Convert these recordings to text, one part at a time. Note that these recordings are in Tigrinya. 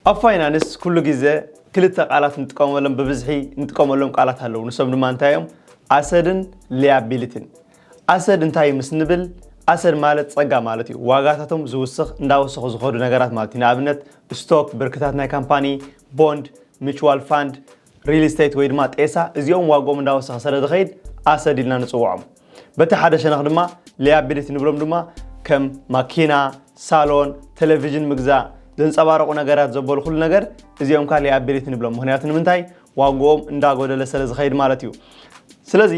ኣብ ፋይናንስ ኩሉ ግዘ ክልተ ቃላት ንጥቀመሎም ብብዝሒ ንጥቀመሎም ቃላት ኣለው ንሶም ድማ እንታይ እዮም ኣሰድን ሊያቢሊቲን ኣሰድ እንታይ ምስ ንብል ኣሰድ ማለት ፀጋ ማለት እዩ ዋጋታቶም ዝውስኽ እንዳወሰኹ ዝኸዱ ነገራት ማለት እዩ ንኣብነት ስቶክ ብርክታት ናይ ካምፓኒ ቦንድ ሚችዋል ፋንድ ሪል ስቴት ወይ ድማ ጤሳ እዚኦም ዋግኦም እንዳወሰኸ ሰለ ዝኸይድ ኣሰድ ኢልና ንፅውዖም። በቲ ሓደ ሸነኽ ድማ ሊያቢሊቲ ንብሎም ድማ ከም ማኪና፣ ሳሎን፣ ተለቪዥን ምግዛእ፣ ዘንፀባርቑ ነገራት ዘበሉ ኩሉ ነገር እዚኦም ካዓ ሊያቢሊቲ ንብሎም። ምኽንያቱ ንምንታይ ዋግኦም እንዳጎደለ ሰለ ዝኸይድ ማለት እዩ። ስለዚ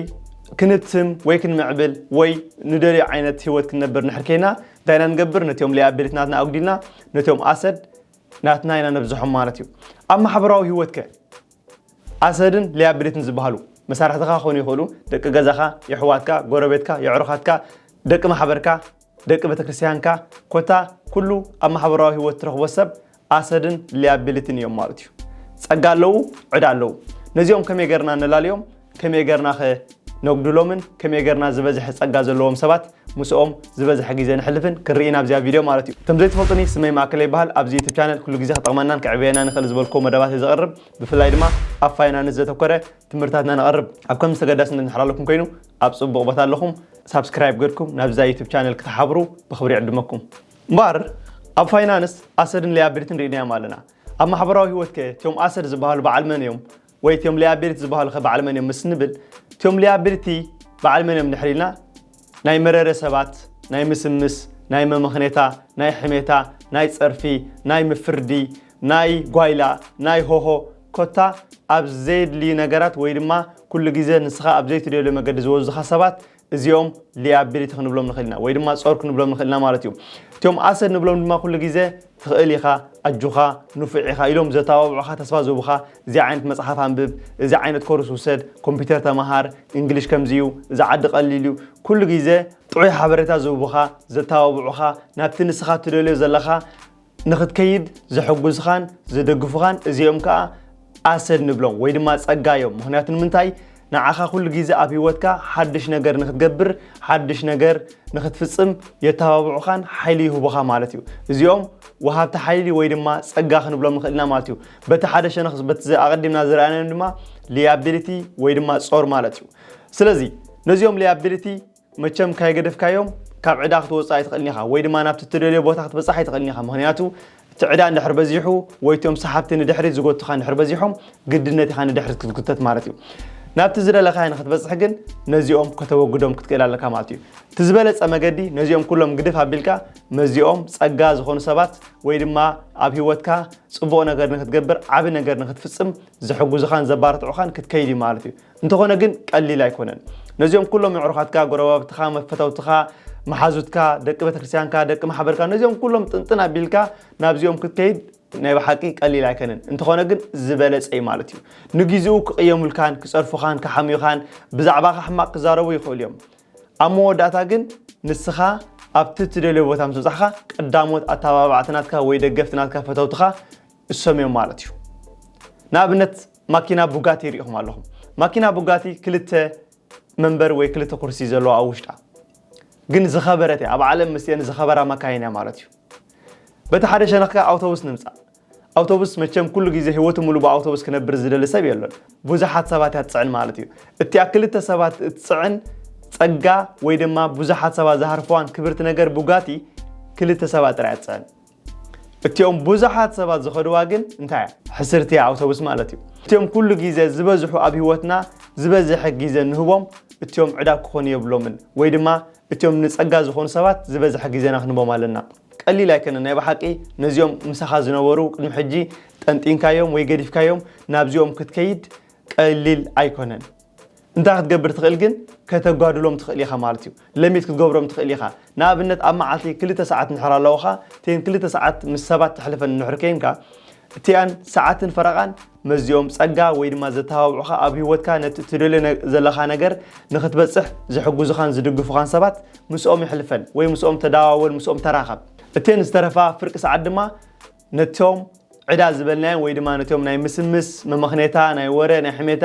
ክንትም ወይ ክንምዕብል ወይ ንደልዮ ዓይነት ህይወት ክንነብር እንድሕር ኬይና እንታይና ንገብር ነቲኦም ሊያቢሊቲ ናትና ኣጉዲልና ነቲኦም ኣሰድ ናትና ኢና ነብዝሖም ማለት እዩ። ኣብ ማሕበራዊ ህይወትከ? ኣሰድን ሊያብሊትን ዝበሃሉ መሳርሕትኻ ክኾኑ ይኽእሉ፣ ደቂ ገዛኻ፣ የሕዋትካ፣ ጎረቤትካ፣ የዕሩኻትካ፣ ደቂ ማሕበርካ፣ ደቂ ቤተክርስትያንካ፣ ኮታ ኩሉ ኣብ ማሕበራዊ ህይወት ትረኽቦ ሰብ ኣሰድን ሊያብሊትን እዮም ማለት እዩ። ጸጋ ኣለዉ፣ ዕዳ ኣለዉ። ነዚኦም ከመይ ገርና ነላልዮም? ከመይ ገርናኸ ነጉድሎምን ከመይ ገርና ዝበዝሐ ጸጋ ዘለዎም ሰባት ምስኦም ዝበዝሐ ግዜ ነሕልፍን ክንርኢ ኢና ኣብዚኣ ቪድዮ ማለት እዩ። ከም ዘይትፈልጡኒ ስመይ ማእከለ ይበሃል ኣብዚ ዩቱብ ቻነል ኩሉ ግዜ ክጠቕመናን ከዕብየናን ይኽእል ዝበልክዎ መደባት እየ ዘቕርብ ብፍላይ ድማ ኣብ ፋይናንስ ዘተኮረ ትምህርትታት ኢና ነቕርብ ኣብ ከምዚ ተገዳስነት ንሕራለኩም ኮይኑ ኣብ ጽቡቕ ቦታ ኣለኹም ሳብስክራይብ ገርኩም ናብዛ ዩቱብ ቻነል ክትሓብሩ ብኽብሪ ዕድመኩም እምበኣር ኣብ ፋይናንስ ኣሰድን ሊያብሊትን ርኢናዮም ኣለና ኣብ ማሕበራዊ ህይወት ከ እቲኦም ኣሰድ ዝበሃሉ በዓል መን እዮም ወይ እቲዮም ለያቢሊቲ ዝበሃሉ ከ በዓል መን እዮም ምስ ንብል እቲዮም ለያቢሊቲ በዓል መን እዮም ድሕሪ ኢልና ናይ መረረ ሰባት ናይ ምስምስ ናይ መመኽኔታ ናይ ሕሜታ ናይ ጸርፊ ናይ ምፍርዲ ናይ ጓይላ ናይ ሆሆ ኮታ ኣብ ዘየድልዩ ነገራት ወይ ድማ ኩሉ ግዜ ንስኻ ኣብ ዘይትደልዮ መገዲ ዝወዙኻ ሰባት እዚኦም ሊያቢሊቲ ክንብሎም ንኽእል ኢና ወይ ድማ ጾር ክንብሎም ንኽእል ኢና ማለት እዩ እቲኦም ኣሰድ ንብሎም ድማ ኩሉ ግዜ ትኽእል ኢኻ ኣጆኻ ንፉዕ ኢኻ ኢሎም ዘተባብዑኻ ተስፋ ዝህቡኻ እዚ ዓይነት መጽሓፍ ኣንብብ እዚ ዓይነት ኮርስ ውሰድ ኮምፒውተር ተመሃር እንግሊሽ ከምዚ እዩ እዚ ዓዲ ቀሊል እዩ ኩሉ ግዜ ጥዑይ ሓበሬታ ዝህቡኻ ዘተባብዑኻ ናብቲ ንስኻ ትደልዮ ዘለኻ ንኽትከይድ ዝሕጉዝኻን ዝድግፉኻን እዚኦም ከኣ ኣሰድ ንብሎም ወይ ድማ ጸጋ እዮም ምኽንያቱ ንምንታይ ንዓኻ ኩሉ ግዜ ኣብ ህይወትካ ሓድሽ ነገር ንኽትገብር ሓድሽ ነገር ንኽትፍጽም የተባብዑኻን ሓይሊ ይህቡኻ ማለት እዩ እዚኦም ወሃብቲ ሓይሊ ወይ ድማ ጸጋ ክንብሎም ንኽእልና ማለት እዩ በቲ ሓደ ሸነኽ በቲ ኣቐዲምና ዝረኣናዮም ድማ ሊያቢሊቲ ወይ ድማ ጾር ማለት እዩ ስለዚ ነዚኦም ሊያቢሊቲ መቸም ካይገደፍካዮም ካብ ዕዳ ክትወጽእ ኣይትኽእልን ኢኻ ወይ ድማ ናብቲ እትደልዮ ቦታ ክትበጽሕ ኣይትኽእልን ኢኻ ምኽንያቱ እቲ ዕዳ እንድሕር በዚሑ ወይ እቶም ሰሓብቲ ንድሕሪት ዝጎቱኻ እንድሕር በዚሖም ግድነት ኢኻ ንድሕሪት ክትጉተት ማለት እዩ ናብቲ ዝደለኻዮ ንክትበጽሕ ግን ነዚኦም ከተወግዶም ክትክእል ኣለካ ማለት እዩ እቲ ዝበለጸ መገዲ ነዚኦም ኩሎም ግድፍ ኣቢልካ መዚኦም ጸጋ ዝኾኑ ሰባት ወይ ድማ ኣብ ህይወትካ ጽቡቕ ነገር ንክትገብር ዓቢ ነገር ንክትፍጽም ዝሕጉዝኻን ዘባርትዑኻን ክትከይድ እዩ ማለት እዩ እንተኾነ ግን ቀሊል ኣይኮነን። ነዚኦም ኩሎም የዕሩኻትካ፣ ጎረባብትኻ፣ መፈተውትኻ፣ መሓዙትካ፣ ደቂ ቤተክርስትያንካ፣ ደቂ ማሕበርካ ነዚኦም ኩሎም ጥንጥን ኣቢልካ ናብዚኦም ክትከይድ ናይ ብሓቂ ቀሊል ኣይከነን። እንተኾነ ግን ዝበለጸ እዩ ማለት እዩ። ንጊዜኡ ክቕየሙልካን ክጸርፉኻን ክሓምዩኻን ብዛዕባኻ ሕማቕ ክዛረቡ ይኽእሉ እዮም። ኣብ መወዳእታ ግን ንስኻ ኣብቲ እትደልዮ ቦታ ምስ በጻሕካ ቀዳሞት ኣተባባዕቲ ናትካ ወይ ደገፍቲ ናትካ ፈተውትኻ እሶም እዮም ማለት እዩ ንኣብነት ማኪና ቡጋቲ ሪኢኹም ኣለኹም ማኪና ቡጋቲ ክልተ መንበሪ ወይ ክልተ ኩርሲ ዘለዎ ኣብ ውሽጣ ግን ዝኸበረት እያ ኣብ ዓለም ምስኤን ዝኸበራ መካይን እያ ማለት እዩ በቲ ሓደ ሸነኽ ከ ኣውቶቡስ ንምፃእ ኣውቶቡስ መቸም ኩሉ ግዜ ህይወቱ ሙሉ ብኣውቶቡስ ክነብር ዝደሊ ሰብ የሎን ብዙሓት ሰባት እያ ትፅዕን ማለት እዩ እቲኣ ክልተ ሰባት እትፅዕን ፀጋ ወይ ድማ ብዙሓት ሰባት ዝሃርፈዋን ክብርቲ ነገር ቡጋቲ ክልተ ሰባት ጥራይ እያ ትፅዕን እቲኦም ብዙሓት ሰባት ዝኸድዋ ግን እንታይ እያ? ሕስርቲ እያ ኣውቶቡስ ማለት እዩ። እቲኦም ኩሉ ግዜ ዝበዝሑ ኣብ ህይወትና ዝበዝሐ ግዜ ንህቦም እቲኦም ዕዳ ክኾኑ የብሎምን ወይ ድማ እቲኦም ንጸጋ ዝኾኑ ሰባት ዝበዝሐ ግዜና ክንህቦም ኣለና። ቀሊል ኣይከነን ናይ ብሓቂ ነዚኦም ምሳኻ ዝነበሩ ቅድሚ ሕጂ ጠንጢንካዮም ወይ ገዲፍካዮም ናብዚኦም ክትከይድ ቀሊል ኣይኮነን። እንታይ ክትገብር ትኽእል ግን ከተጓድሎም ትኽእል ኢኻ ማለት እዩ ለሚት ክትገብሮም ትኽእል ኢኻ ንኣብነት ኣብ መዓልቲ ክልተ ሰዓት ንሕር ኣለውኻ እተን ክልተ ሰዓት ምስ ሰባት ተሕልፈን ንሕር ከይንካ እቲኣን ሰዓትን ፈረቓን መዚኦም ጸጋ ወይ ድማ ዘተባብዑኻ ኣብ ህይወትካ ነቲ እትደልዮ ዘለኻ ነገር ንኽትበጽሕ ዝሕግዙኻን ዝድግፉኻን ሰባት ምስኦም ይሕልፈን ወይ ምስኦም ተደዋወል ምስኦም ተራኸብ እተን ዝተረፋ ፍርቂ ሰዓት ድማ ነቶም ዕዳ ዝበልናዮም ወይ ድማ ነቶም ናይ ምስምስ፣ መመኽኔታ፣ ናይ ወረ፣ ናይ ሕሜታ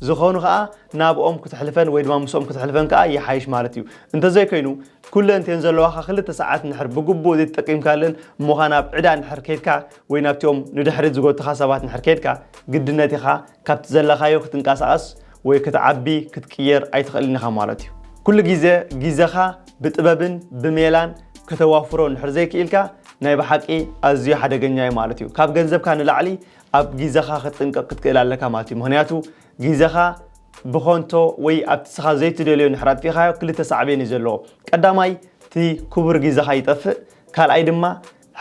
ዝኾኑ ከኣ ናብኦም ክተሕልፈን ወይ ድማ ምስኦም ክተሕልፈን ከኣ ይሓይሽ ማለት እዩ። እንተዘይኮይኑ ኩለን እቲኤን ዘለዋኻ ክልተ ሰዓት እንድሕር ብግቡእ ዘይተጠቂምካለን እሞኻ ናብ ዕዳ እንድሕር ከይድካ ወይ ናብቲኦም ንድሕሪት ዝጎቱኻ ሰባት እንድሕር ከይድካ ግድነት ኢኻ ካብቲ ዘለኻዮ ክትንቀሳቐስ ወይ ክትዓቢ ክትቅየር ኣይትኽእልን ኢኻ ማለት እዩ። ኩሉ ግዜ ግዜኻ ብጥበብን ብሜላን ከተዋፍሮ እንድሕር ዘይክኢልካ ናይ ብሓቂ ኣዝዩ ሓደገኛ እዩ ማለት እዩ። ካብ ገንዘብካ ንላዕሊ ኣብ ግዜኻ ክትጥንቀቕ ክትክእል ኣለካ ማለት እዩ። ምኽንያቱ ግዜኻ ብኾንቶ ወይ ኣብቲ ንስኻ ዘይትደልዮ እንድሕር ኣጥፊእካዮ ክልተ ሳዕቤን እዩ ዘለዎ። ቀዳማይ እቲ ክቡር ግዜኻ ይጠፍእ፣ ካልኣይ ድማ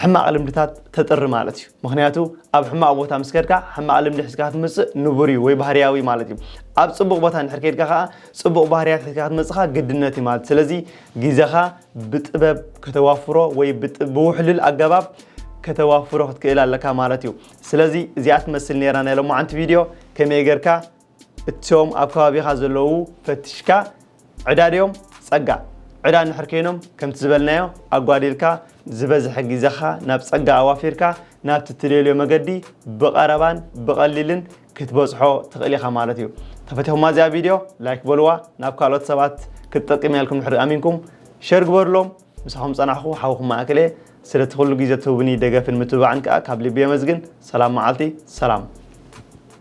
ሕማቕ ልምድታት ተጥሪ ማለት እዩ። ምኽንያቱ ኣብ ሕማቕ ቦታ ምስ ከድካ ሕማቕ ልምዲ ሒዝካ ክትምጽእ ንቡር እዩ ወይ ባህርያዊ ማለት እዩ። ኣብ ጽቡቕ ቦታ እንድሕር ከድካ ከኣ ጽቡቕ ባህርያት ሒዝካ ክትመጽኻ ግድነት እዩ ማለት ስለዚ ግዜኻ ብጥበብ ከተዋፍሮ ወይ ብውሕልል ኣገባብ ከተዋፍሮ ክትክእል ኣለካ ማለት እዩ። ስለዚ እዚኣ ትመስል ነይራ ናይ ሎማዓንቲ ቪድዮ ከመይ ጌርካ እቶም ኣብ ከባቢኻ ዘለዉ ፈትሽካ ዕዳ ድዮም ጸጋ ዕዳ እንድሕር ከይኖም ከምቲ ዝበልናዮ ኣጓዲልካ ዝበዝሐ ግዜኻ ናብ ጸጋ ኣዋፊርካ ናብቲ እትደልዮ መገዲ ብቐረባን ብቐሊልን ክትበጽሖ ትኽእል ኢኻ ማለት እዩ። ተፈቲኹማ እዚኣ ቪድዮ ላይክ በልዋ ናብ ካልኦት ሰባት ክትጠቅም እያ ኢልኩም ድሕሪ ኣሚንኩም ሸር ግበርሎም። ምሳኹም ጸናሕኩ ሓውኹም ማእከል እየ። ስለቲ ኩሉ ግዜ ትህቡኒ ደገፍን ምትብባዕን ከኣ ካብ ልቢ የመስግን። ሰላም መዓልቲ ሰላም።